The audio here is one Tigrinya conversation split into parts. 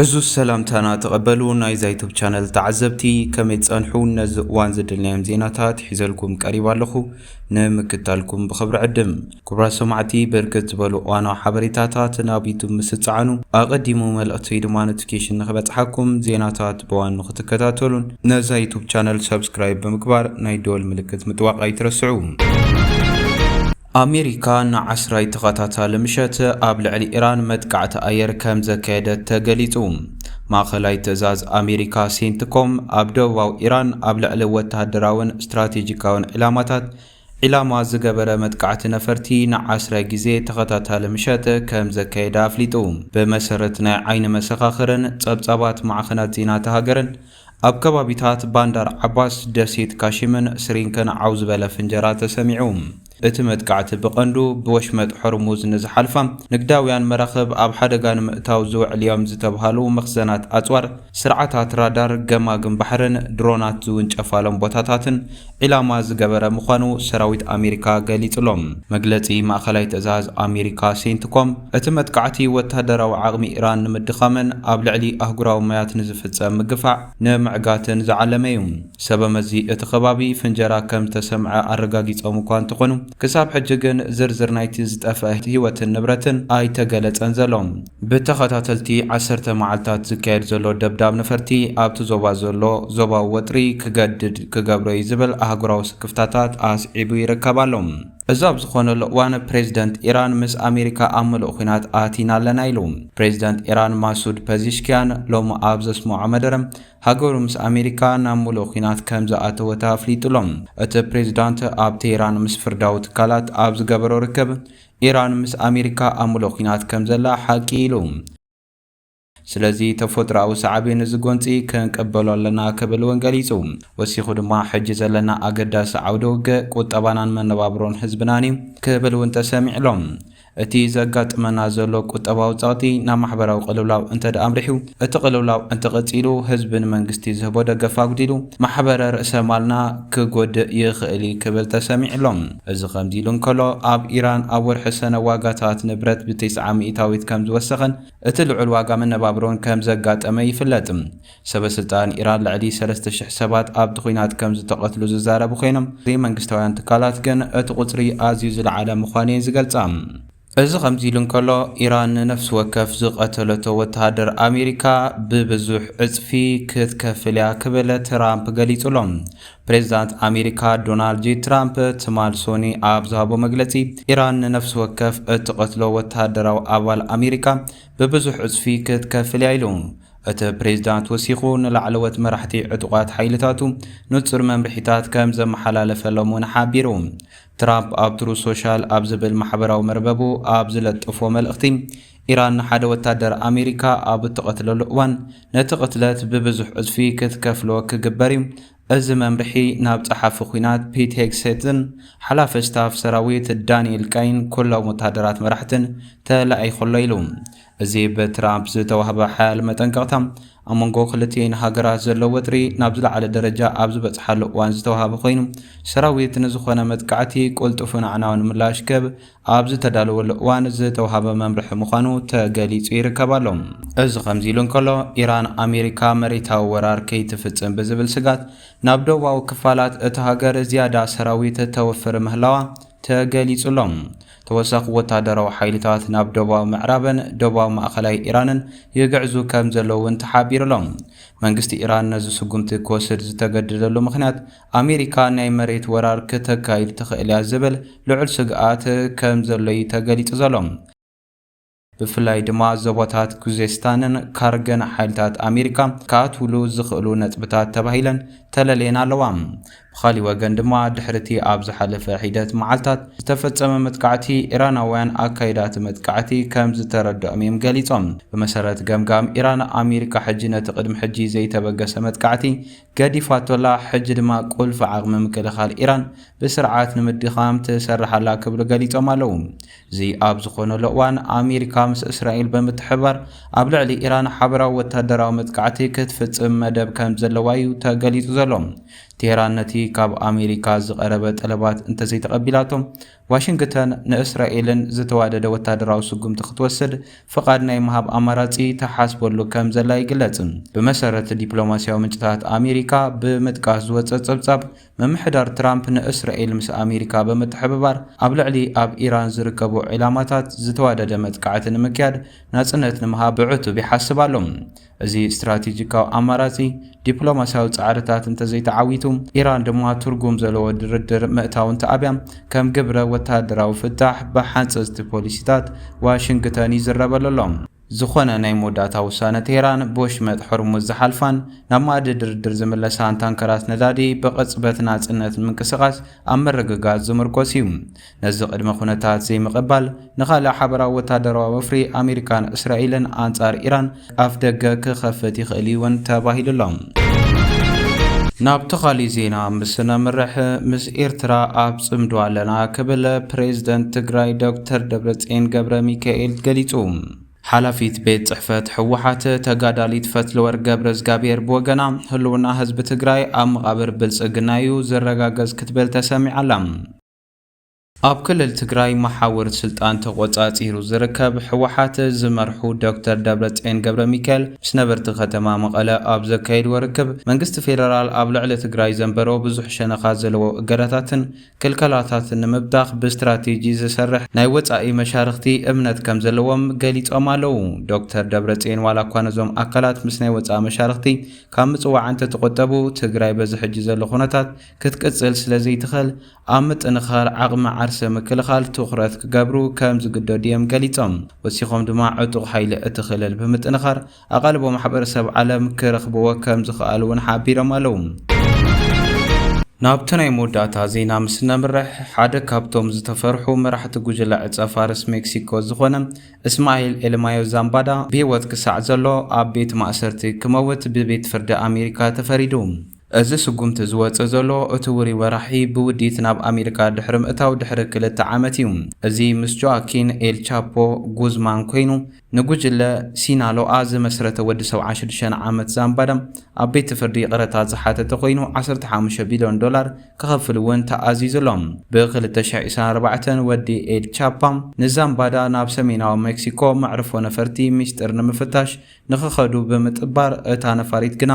ዕዙዝ ሰላምታና ተቐበሉ ናይዛ ዩቱብ ቻነል ተዓዘብቲ ከመይ ትጸንሑ ነዚ እዋን ዝድልናዮም ዜናታት ሒዘልኩም ቀሪብ ኣለኹ ንምክታልኩም ብኽብሪ ዕድም ክብራት ሰማዕቲ ብርክት ዝበሉ እዋናዊ ሓበሬታታት ናብ ዩቱብ ምስ ትጸዓኑ ኣቐዲሙ መልእኽቲ ወይ ድማ ኖቲፊኬሽን ንኽበጽሓኩም ዜናታት ብዋን ንኽትከታተሉን ነዛ ዩቱብ ቻነል ሰብስክራይብ ብምግባር ናይ ደወል ምልክት ምጥዋቕ ኣይትረስዑ ኣሜሪካ ንዓስራይ ተኸታታሊ ምሸት ኣብ ልዕሊ ኢራን መጥቃዕቲ ኣየር ከም ዘካየደት ተገሊጹ። ማእከላይ ትእዛዝ ኣሜሪካ ሴንትኮም ኣብ ደቡባዊ ኢራን ኣብ ልዕሊ ወተሃደራዊን ስትራቴጂካዊን ዒላማታት ዒላማ ዝገበረ መጥቃዕቲ ነፈርቲ ንዓስራይ ግዜ ተኸታታሊ ምሸት ከም ዘካየደ ኣፍሊጡ። ብመሰረት ናይ ዓይኒ መሰኻኽርን ጸብጻባት ማዕኸናት ዜና እታ ሃገርን፣ ኣብ ከባቢታት ባንዳር ዓባስ፣ ደሴት ካሺምን ስሪንክን ዓው ዝበለ ፍንጀራ ተሰሚዑ። እቲ መጥቃዕቲ ብቐንዱ ብወሽመጥ ሆርሙዝ ንዝሓልፋ ንግዳውያን መራኽብ ኣብ ሓደጋ ንምእታው ዝውዕል'ዮም ዝተብሃሉ መኽዘናት ኣጽዋር፣ ስርዓታት ራዳር፣ ገማግም ባሕርን ድሮናት ዝውንጨፋሎም ቦታታትን ዒላማ ዝገበረ ምዃኑ ሰራዊት ኣሜሪካ ገሊጹ'ሎ። መግለጺ ማእከላይ ትእዛዝ ኣሜሪካ ሴንትኮም፣ እቲ መጥቃዕቲ ወተሃደራዊ ዓቕሚ ኢራን ንምድኻምን ኣብ ልዕሊ ኣህጉራዊ ማያት ንዝፍጸም ምግፋዕ ንምዕጋትን ዝዓለመ'ዩ። ሰበመዚ እቲ ከባቢ ፍንጀራ ከም ዝተሰምዐ ኣረጋጊጾም'ኳ እንተኾኑ፣ ክሳብ ሕጂ ግን ዝርዝር ናይቲ ዝጠፍአ ህይወትን ንብረትን ኣይተገለጸን ዘሎ። ብተኸታተልቲ ዓሰርተ መዓልታት ዝካየድ ዘሎ ደብዳብ ነፈርቲ ኣብቲ ዞባ ዘሎ ዞባዊ ወጥሪ ክገድድ ክገብሮ'ዩ ዝብል ኣህጉራዊ ስክፍታታት ኣስዒቡ ይርከብ ኣሎ። እዚ ኣብ ዝኾነሉ እዋን ፕሬዝደንት ኢራን ምስ ኣሜሪካ ኣብ ምሉእ ኹናት ኣቲና ኣለና ኢሉ። ፕሬዝደንት ኢራን ማሱድ ፐዚሽኪያን ሎሚ ኣብ ዘስመዖ መደረ ሃገሩ ምስ ኣሜሪካ ናብ ምሉእ ኹናት ከምዝኣተወት ኣፍሊጡ'ሎ። እቲ ፕሬዝዳንት ኣብ ቴህራን ምስ ፍርዳዊ ትካላት ኣብ ዝገበሮ ርክብ ኢራን ምስ ኣሜሪካ ኣብ ምሉእ ኲናት ከም ዘላ ሓቂ ኢሉ። ስለዚ ተፎጥሮኣዊ ሳዕቤን እዚ ጎንጺ ክንቅበሎ ኣለና ክብል እውን ገሊጹ። ወሲኹ ድማ ሕጂ ዘለና ኣገዳሲ ዓውደ ውግእ ቁጠባናን መነባብሮን ህዝብናን እዩ ክብል እውን ተሰሚዑ ኣሎ። እቲ ዘጋጥመና ዘሎ ቁጠባዊ ጸቕጢ ናብ ማሕበራዊ ቅልውላው እንተድኣ ኣምሪሑ እቲ ቅልውላው እንተቐጺሉ፣ ህዝቢ ንመንግስቲ ዝህቦ ደገፍ ኣጉዲሉ፣ ማሕበረ ርእሰ ማልና ክጎድእ ይኽእል እዩ ክብል ተሰሚዑ ኣሎ። እዚ ከምዚ ኢሉ እንከሎ፣ ኣብ ኢራን ኣብ ወርሒ ሰነ ዋጋታት ንብረት ብትስዓ ሚኢታዊት ከም ዝወሰኸን እቲ ልዑል ዋጋ መነባብሮን ከም ዘጋጠመ ይፍለጥ። ሰበ ስልጣን ኢራን ልዕሊ ሰለስተ ሽሕ ሰባት ኣብቲ ኲናት ከም ዝተቐትሉ ዝዛረቡ ኮይኖም፣ ዘይመንግስታውያን ትካላት ግን እቲ ቁጽሪ ኣዝዩ ዝለዓለ ምዃኑ'የን ዝገልጻ። እዚ ከምዚሉ እንከሎ፣ ኢራን ንነፍሲ ወከፍ ዝቐተለቶ ወተሃደር ኣሜሪካ ብብዙሕ ዕጽፊ ክትከፍል'ያ ክብል ትራምፕ ገሊጹ'ሎ። ፕሬዝዳንት ኣሜሪካ ዶናልድ ጄ ትራምፕ ትማል ሶኒ ኣብ ዝሃቦ መግለጺ፣ ኢራን ንነፍሲ ወከፍ እትቐትሎ ወተሃደራዊ ኣባል ኣሜሪካ ብብዙሕ ዕጽፊ ክትከፍል'ያ ኢሉ። እቲ ፕሬዝዳንት ወሲኹ ንላዕለዎት መራሕቲ ዕጡቓት ሓይልታቱ ንጹር መምርሒታት ከምዘመሓላለፈሎም'ውን ሓቢሩ። ትራምፕ ኣብ ትሩዝ ሶሻል ኣብ ዝብል ማሕበራዊ መርበቡ ኣብ ዝለጠፎ መልእኽቲ፣ ኢራን ንሓደ ወታደር ኣሜሪካ ኣብ እትቐትለሉ እዋን ነቲ ቅትለት ብብዙሕ ዕጽፊ ክትከፍሎ ክግበር'ዩ፣ እዚ መምርሒ ናብ ጸሓፊ ኲናት ፒት ሄግሴትን ሓላፊ ስታፍ ሰራዊት ዳኒኤል ካይን ኩሎም ወታደራት መራሕትን ተላኢኹ'ሎ ኢሉ። እዚ ብትራምፕ ዝተዋህበ ሓያል መጠንቀቕታ፣ ኣብ መንጎ ክልቲኤን ሃገራት ዘሎ ወጥሪ ናብ ዝለዓለ ደረጃ ኣብ ዝበጽሓሉ እዋን ዝተዋህበ ኮይኑ፣ ሰራዊት ንዝኾነ መጥቃዕቲ ቅልጡፍን ኣዕናውን ምላሽ ክህብ ኣብ ዝተዳለወሉ እዋን ዝተዋህበ መምርሒ ምዃኑ ተገሊጹ ይርከብ ኣሎ። እዚ ከምዚ ኢሉ እንከሎ፣ ኢራን ኣሜሪካ መሬታዊ ወራር ከይትፍጽም ብዝብል ስግኣት ናብ ደቡባዊ ክፋላት እታ ሃገር ዝያዳ ሰራዊት ተውፍር ምህላዋ ተገሊጹ ኣሎ። ተወሳኺ ወታደራዊ ሓይልታት ናብ ደቡባዊ ምዕራብን ደቡባዊ ማእኸላይ ኢራንን ይግዕዙ ከም ዘለዉ እውን ተሓቢሩ'ሎ። መንግስቲ ኢራን ነዚ ስጉምቲ ክወስድ ዝተገደደሉ ምኽንያት፣ ኣሜሪካ ናይ መሬት ወራር ክተካይድ ትኽእል እያ ዝብል ልዑል ስግኣት ከም ዘሎ'ዩ ተገሊጹ ዘሎ። ብፍላይ ድማ ዞባታት ኩዜስታንን ካርገን ሓይልታት ኣሜሪካ ክኣትውሉ ዝኽእሉ ነጥብታት ተባሂለን ተለልየን ኣለዋ። ብኻሊእ ወገን ድማ ድሕሪ እቲ ኣብ ዝሓለፈ ሒደት መዓልታት ዝተፈጸመ መጥቃዕቲ፣ ኢራናውያን ኣካይዳ እቲ መጥቃዕቲ ከም ዝተረድኦም እዮም ገሊጾም። ብመሰረት ገምጋም ኢራን፣ ኣሜሪካ ሕጂ ነቲ ቅድሚ ሕጂ ዘይተበገሰ መጥቃዕቲ ገዲፋቶ'ላ፣ ሕጂ ድማ ቁልፊ ዓቕሚ ምክልኻል ኢራን ብስርዓት ንምድኻም ትሰርሕ ኣላ ክብሉ ገሊጾም ኣለዉ። እዚ ኣብ ዝኾነሉ እዋን፣ ኣሜሪካ ምስ እስራኤል ብምትሕብባር ኣብ ልዕሊ ኢራን ሓበራዊ ወተሃደራዊ መጥቃዕቲ ክትፍጽም መደብ ከምዘለዋ'ዩ ተገሊጹ ዘሎ። ቴህራን ነቲ ካብ ኣሜሪካ ዝቐረበ ጠለባት እንተዘይተቐቢላቶ፣ ዋሽንግተን ንእስራኤልን ዝተዋደደ ወታደራዊ ስጉምቲ ክትወስድ ፍቓድ ናይ ምሃብ ኣማራጺ ትሓስበሉ ከም ዘላ ይግለጽ። ብመሰረት ዲፕሎማስያዊ ምንጭታት ኣሜሪካ ብምጥቃስ ዝወጸ ጸብጻብ፣ ምምሕዳር ትራምፕ ንእስራኤል ምስ ኣሜሪካ ብምትሕብባር ኣብ ልዕሊ ኣብ ኢራን ዝርከቡ ዒላማታት ዝተዋደደ መጥቃዕቲ ንምክያድ ናጽነት ንምሃብ ብዕቱብ ይሓስብ ኣሎ። እዚ ስትራቴጂካዊ ኣማራጺ ዲፕሎማሲያዊ ጻዕርታት እንተዘይተዓዊቱ፣ ኢራን ድማ ትርጉም ዘለዎ ድርድር ምእታው እንተኣብያ፣ ከም ግብረ ወተሃደራዊ ፍታሕ ብሓንጸጽቲ ፖሊሲታት ዋሽንግተን ይዝረበሉ ኣሎ። ዝኾነ ናይ መወዳእታ ውሳነ ቴህራን ብወሽመጥ ሆርሙዝ ዝሓልፋን ናብ መኣዲ ድርድር ዝምለሳን ታንከራት ነዳዲ ብቕጽበት ናጽነት ንምንቅስቓስ ኣብ ምርግጋጽ ዝምርኮስ እዩ። ነዚ ቅድመ ኩነታት ዘይምቕባል፣ ንኻልእ ሓበራዊ ወተሃደራዊ ወፍሪ ኣሜሪካን እስራኤልን ኣንጻር ኢራን ኣፍደገ ክኸፍት ይኽእል'ዩ እውን ተባሂሉ'ሎ። ናብቲ ኻሊእ ዜና ምስ ነምርሕ፣ ምስ ኤርትራ ኣብ ጽምዶ ኣለና ክብል ፕሬዝደንት ትግራይ ዶክተር ደብረጽዮን ገብረሚካኤል ገሊጹ። ሓላፊት ቤት ጽሕፈት ህወሓት ተጋዳሊት ፈትለወርቅ ገብረዝጋብሄር ብወገና፣ ህልውና ህዝቢ ትግራይ ኣብ መቓብር ብልጽግና'ዩ ዝረጋገጽ ክትብል ተሰሚዓ'ላ። ኣብ ክልል ትግራይ መሓውር ስልጣን ተቖፃፂሩ ዝርከብ ህወሓት ዝመርሑ ዶክተር ደብረፅዮን ገብረሚካኤል ምስ ነበርቲ ከተማ መቐለ ኣብ ዘካየድዎ ርክብ መንግስቲ ፌደራል ኣብ ልዕሊ ትግራይ ዘንበሮ ብዙሕ ሸነኻት ዘለዎ እገዳታትን ክልከላታትን ንምብታኽ ብስትራቴጂ ዝሰርሕ ናይ ወፃኢ መሻርኽቲ እምነት ከም ዘለዎም ገሊፆም ኣለው። ዶክተር ደብረፅዮን ዋላ እኳ ነዞም ኣካላት ምስ ናይ ወፃኢ መሻርኽቲ ካብ ምፅዋዕ እንተተቖጠቡ ትግራይ በዚ ሕጂ ዘሎ ኩነታት ክትቅጽል ስለ ዘይትኸል ኣብ ምጥንኻር ዓቕሚ ዓርሰ ምክልኻል ትኹረት ክገብሩ ከም ዝግደዱ'የም ገሊጾም። ወሲኾም ድማ ዕጡቕ ሓይሊ እቲ ክልል ብምጥንኻር ኣቓልቦ ማሕበረሰብ ዓለም ክረኽብዎ ከም ዝኸኣሉ'ውን ሓቢሮም ኣለው። ናብቲ ናይ መወዳእታ ዜና ምስ እነምርሕ፣ ሓደ ካብቶም ዝተፈርሑ መራሕቲ ጉጅለ ዕጸፋርስ ሜክሲኮ ዝኾነ እስማኤል ኤልማዮ ዛምባዳ ብህይወት ክሳዕ ዘሎ ኣብ ቤት ማእሰርቲ ክመውት ብቤት ፍርዲ ኣሜሪካ ተፈሪዱ። እዚ ስጉምቲ ዝወጽእ ዘሎ እቲ ውሩይ ወራሒ ብውዲት ናብ ኣሜሪካ ድሕሪ ምእታው ድሕሪ ክልተ ዓመት እዩ። እዚ ምስ ጆኣኪን ኤል ቻፖ ጉዝማን ኮይኑ ንጉጅለ ሲናሎኣ ዝመስረተ ወዲ ሰብዓ ሽዱሽተ ዓመት ዛምባዳ ኣብ ቤት ፍርዲ ይቕረታ ዝሓተተ ኮይኑ ዓሰርተ ሓሙሽተ ቢልዮን ዶላር ክኸፍል እውን ተኣዚዙ ኣሎ። ብ ክልተ ሽሕ ዒስራን ኣርባዕተን ወዲ ኤል ቻፓ ንዛምባዳ ናብ ሰሜናዊ ሜክሲኮ መዕርፎ ነፈርቲ ሚስጥር ንምፍታሽ ንክኸዱ ብምጥባር እታ ነፋሪት ግና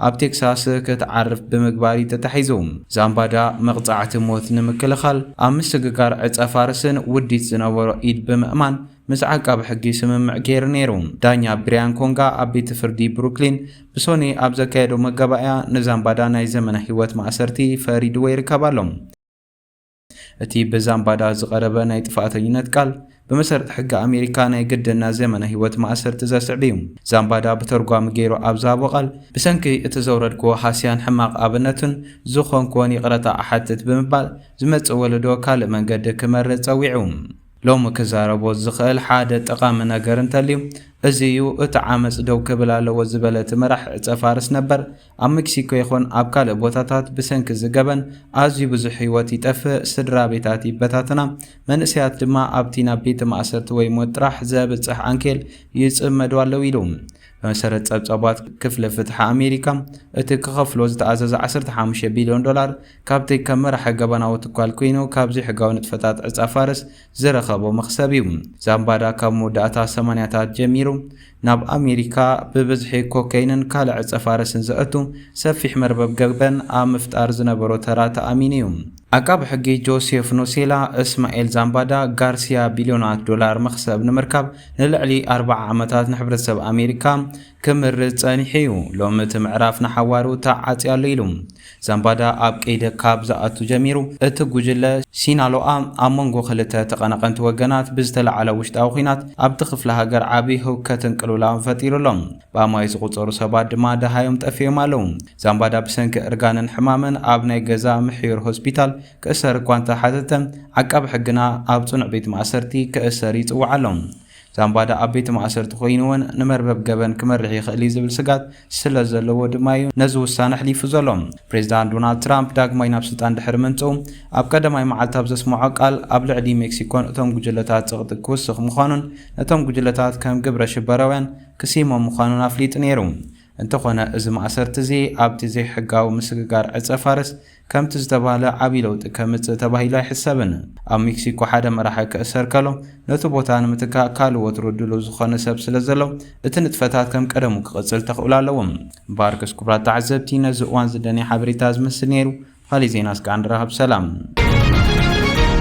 ኣብ ቴክሳስ ክትዓርፍ ብምግባር እዩ ተታሒዙ። ዛምባዳ መቕጻዕቲ ሞት ንምክልኻል ኣብ ምስግጋር ዕጸፋርስን ውዲት ዝነበሮ ኢድ ብምእማን ምስ ዓቃቢ ሕጊ ስምምዕ ገይሩ ነይሩ። ዳኛ ብሪያን ኮንጋ ኣብ ቤት ፍርዲ ብሩክሊን ብሶኑይ ኣብ ዘካየዶ መጋባእያ ንዛምባዳ ናይ ዘመነ ህይወት ማእሰርቲ ፈሪድዎ ይርከብ ኣሎ። እቲ ብዛምባዳ ዝቐረበ ናይ ጥፍኣተኝነት ቃል፣ ብመሰረት ሕጊ ኣሜሪካ ናይ ግድን ናይ ዘመነ ህይወት ማእሰርቲ ዘስዕብ እዩ። ዛምባዳ ብተርጓሚ ገይሩ ኣብ ዝሃቦ ቃል፣ ብሰንኪ እቲ ዘውረድክዎ ሃስያን ሕማቕ ኣብነትን ዝኾንክዎን ይቕረታ እሓትት ብምባል፣ ዝመጽእ ወለዶ ካልእ መንገዲ ክመርጽ ጸዊዑ። ሎሚ ክዛረቦ ዝኽእል ሓደ ጠቓሚ ነገር እንተልዩ እዚ እዩ፣ እቲ ዓመጽ ደው ክብል ኣለዎ ዝበለ እቲ መራሒ ዕጸ ፋርስ ነበር፣ ኣብ መክሲኮ ይኹን ኣብ ካልእ ቦታታት ብሰንኪ እዚ ገበን ኣዝዩ ብዙሕ ህይወት ይጠፍእ፣ ስድራ ቤታት ይበታተና፣ መንእሰያት ድማ ኣብቲ ናብ ቤተ ማእሰርቲ ወይ ሞት ጥራሕ ዘብጽሕ ዓንኬል ይጽመዱ ኣለዉ ኢሉ። ብመሰረት ጸብጻባት ክፍሊ ፍትሒ ኣሜሪካ፣ እቲ ክኸፍሎ ዝተኣዘዘ ዓሰርተ ሓሙሽተ ቢልዮን ዶላር፣ ካብቲ ከም መራሒ ገበናዊ ትኳል ኰይኑ ካብ ዘይሕጋዊ ንጥፈታት ዕጻ ፋርስ ዝረኸቦ መኽሰብ እዩ። ዛምባዳ ካብ መወዳእታ ሰማንያታት ጀሚሩ ናብ ኣሜሪካ ብብዝሒ ኮከይንን ካልእ ዕጸፋረስን ዘእቱ ሰፊሕ መርበብ ገበን ኣብ ምፍጣር ዝነበሮ ተራ ተኣሚኑ እዩ። ዓቃቢ ሕጊ ጆሴፍ ኑሴላ፣ እስማኤል ዛምባዳ ጋርሲያ ቢልዮናት ዶላር መኽሰብ ንምርካብ ንልዕሊ ኣርብዓ ዓመታት ንሕብረተሰብ ኣሜሪካ ክምርዝ ጸኒሑ እዩ፣ ሎሚ እቲ ምዕራፍ ንሓዋሩ ተዓጽዩ ኣሎ ኢሉ። ዛምባዳ ኣብ ቀይዲ ካብ ዝኣቱ ጀሚሩ፣ እቲ ጉጅለ ሲናሎኣ ኣብ መንጎ ክልተ ተቐናቐንቲ ወገናት ብዝተላዕለ ውሽጣዊ ኲናት ኣብቲ ክፍለ ሃገር ዓቢ ህውከትን ቅልውላውን ፈጢሩ ኣሎ። ብኣማኢት ዝቑጸሩ ሰባት ድማ ደሃዮም ጠፊኦም ኣለዉ። ዛምባዳ ብሰንኪ እርጋንን ሕማምን ኣብ ናይ ገዛ ምሕዩር ሆስፒታል ክእሰር እኳ እንተ ሓተተ፣ ዓቃቢ ሕግና ኣብ ጽኑዕ ቤት ማእሰርቲ ክእሰር ይጽውዓ ኣሎ። ዛምባዳ ኣብ ቤት ማእሰርቲ ኮይኑ'ውን ንመርበብ ገበን ክመርሕ ይኽእል'ዩ ዝብል ስግኣት ስለዘለዎ ድማ'ዩ ነዚ ውሳነ ኣሕሊፉ ዘሎ። ፕሬዝዳንት ዶናልድ ትራምፕ ዳግማይ ናብ ስልጣን ድሕሪ ምምጽኡ ኣብ ቀዳማይ መዓልቲ ኣብ ዘስመዖ ቃል ኣብ ልዕሊ ሜክሲኮን እቶም ጉጅለታት ጽቕጢ ክውስኽ ምዃኑን ነቶም ጉጅለታት ከም ግብረ ሽበራውያን ክስይሞም ምዃኑን ኣፍሊጡ ነይሩ። እንተኾነ እዚ ማእሰርቲ'ዚ ኣብቲ ዘይሕጋዊ ምስግጋር ዕጸ ፋርስ ከምቲ ዝተባህለ ዓብዪ ለውጢ ከምጽእ ተባሂሉ ኣይሕሰብን። ኣብ ሚክሲኮ ሓደ መራሒ ክእሰር ከሎ፣ ነቲ ቦታ ንምትካእ ካልእ ወትሩ ድሉው ዝኾነ ሰብ ስለ ዘሎ፣ እቲ ንጥፈታት ከም ቀደሙ ክቕጽል ተኽእሎ ኣለዎ። ባርክስ ኩቡራት ተዓዘብቲ ነዚ እዋን ዝደንየ ሓበሬታ ዝመስል ነይሩ ካሊእ ዜናስ ክኣ ንራኸብ ሰላም።